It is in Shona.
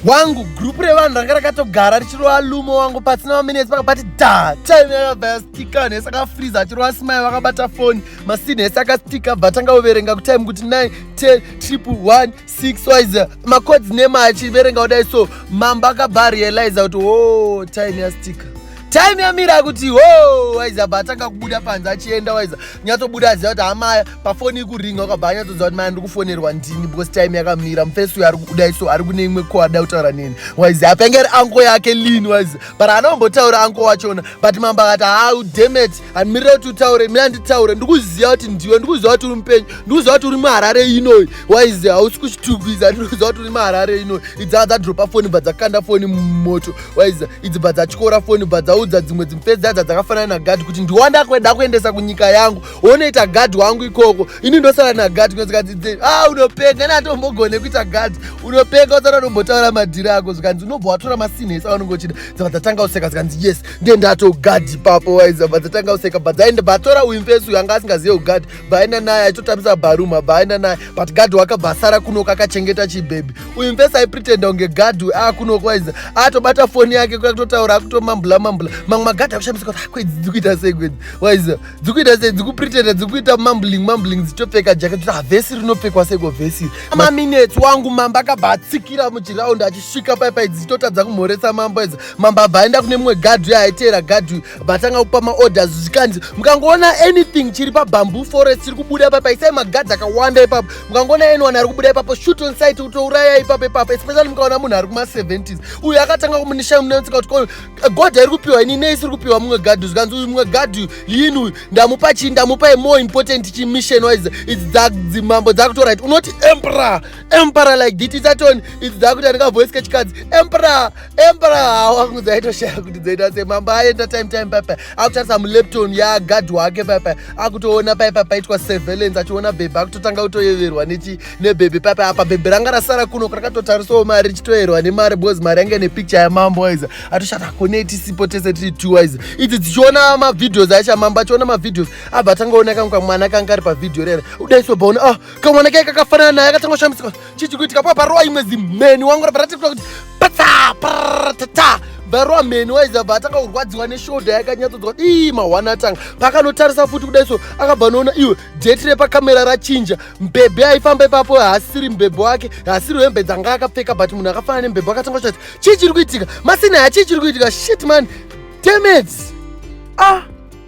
wangu group revanhu ranga rakatogara richirova lumo wangu pasina maminutes pakabati da time yakabva yastika nhese akafriza achirova simai vakabata foni masini hese akastika bva tanga kuverenga kutime kuti 9 10 triple 1 6 wise macods nema achiverenga kudai so mamba akabva arealiza kuti o oh, time yastika time yamira kuti ho waiza bva atanga kubuda panze achienda waiza nyatsobuda aziva kuti hamaya pafoni ikuringa ukabva anyatsoziva kuti maya ndiri kufonerwa ndini because time yakamira mufesi uyo ari kubuda iso ari kune imwe ko ada kutaura neni waiza apengeri anko yake lini waiza but anombotaura anko wachona but mambo akati hau demet handimirira kuti utaure mira nditaure ndikuziva kuti ndiwe ndikuziva kuti uri mupenyu ndikuziva kuti uri muharare inoyi waize hausi kuchitugwiza ndikuziva kuti uri muharare inoyi idzaa dzadropa foni bva dzakanda foni mumoto waize idzi bva dzatyora foni bva dzaudza dzimwe dzimupfedzi dzadza dzakafanana nagadhi kuti ndiwanda kweda kuendesa kunyika yangu onoita gadhi wangu ikoko ini ndosara nagadhi kunozikadzidze a ah, unopenga natombogone kuita gadhi unopenga usara unombotaura madhiri ako zvikanzi unobva watora masinhesa aunenge uchida dzava dzatanga useka zvikanzi yes ndiye ndatogadi papo waiza bva dzatanga kuseka bva dzaenda bvatora uyu mfesi uyu anga asingazive kugadi bvaenda naye aitotambisa baruma bvaenda naye but gadi wakabva asara kunoka akachengeta chibhebhi uyu mfesi aipretenda kunge gadi uyu akunoka waiza atobata foni yake kuyakutotaura akutomambula mambula mamwe magadi akushamisa kuti akwedzi ah, dzikuita sei kwedzi waiza dzikuita sei dzikupretenda dzikuita mambling mambling dzichitopfeka jake kuti havhesi ah, rinopfekwa seiko vhesi maminets wangu mambo akabva atsikira muchiraundi achisvika paipai dzichitotadza kumhoresa mambo waiza mambabva aenda kune mumwe gadhi uyo aiteera gadhi uyu vatanga kupa maorders zvikanzi mukangoona anything chiri pabamboo forest chiri kubuda ipapo isai magadhi akawanda ipapo mukangoona anyone ari kubuda ipapo shoot on site kutouraya ipapo ipapo especially mukaona munhu ari kuma-70s uyu akatanga kumunisha munetsika kuti ko god iri kupiwa ini nei isiri kupiwa mumwe gadhi zvikanzi uyu mumwe gadhi uyu lini uyu ndamupa chii ndamupa imore important chimission wise idzi dzadzimambo dzakutorit unoti empera empera like diti dzatoni idzi dzakuti andikavoice kechikadzi empera embra wangu dzaitoshaya kuti dzaita se mambo aenda time time papa akutarisa mulepton yagadhi wake papa akutoona pai papa aitwa surveillance achiona bhebhe akutotanga kutoyeverwa nechi nebhebhe papa apa bhebhe ranga rasara kuno rakatotarisawo mari richitoyerwa nemari because mari yange nepicture yamambo waiza atoshata kone tisipo tese tiri two waiza idzi dzichiona mavideos aisha mambo achiona mavideos abva atangaona kamwe kamwana kanga ari pavhideo rera udaisobvaona ah kamwana kai kakafanana naye akatanga kushamisika chichi kuitika pa parowa imwe zimheni wangu rabva ratikura kuti patsa paratata varowa mheni waiza bva atanga kurwadziwa neshoda yakanyatsodzwa ii mahwana atanga paakanotarisa futi kudai so akabva anoona iwe jeti repakamera rachinja mbebhe aifamba ipapo haasiri mbebhe wake haasiri hembe dzanga akapfeka but munhu akafanana nembebhe akatanga kuchati chii chiri kuitika masina hachii chiri kuitika shit man demets ah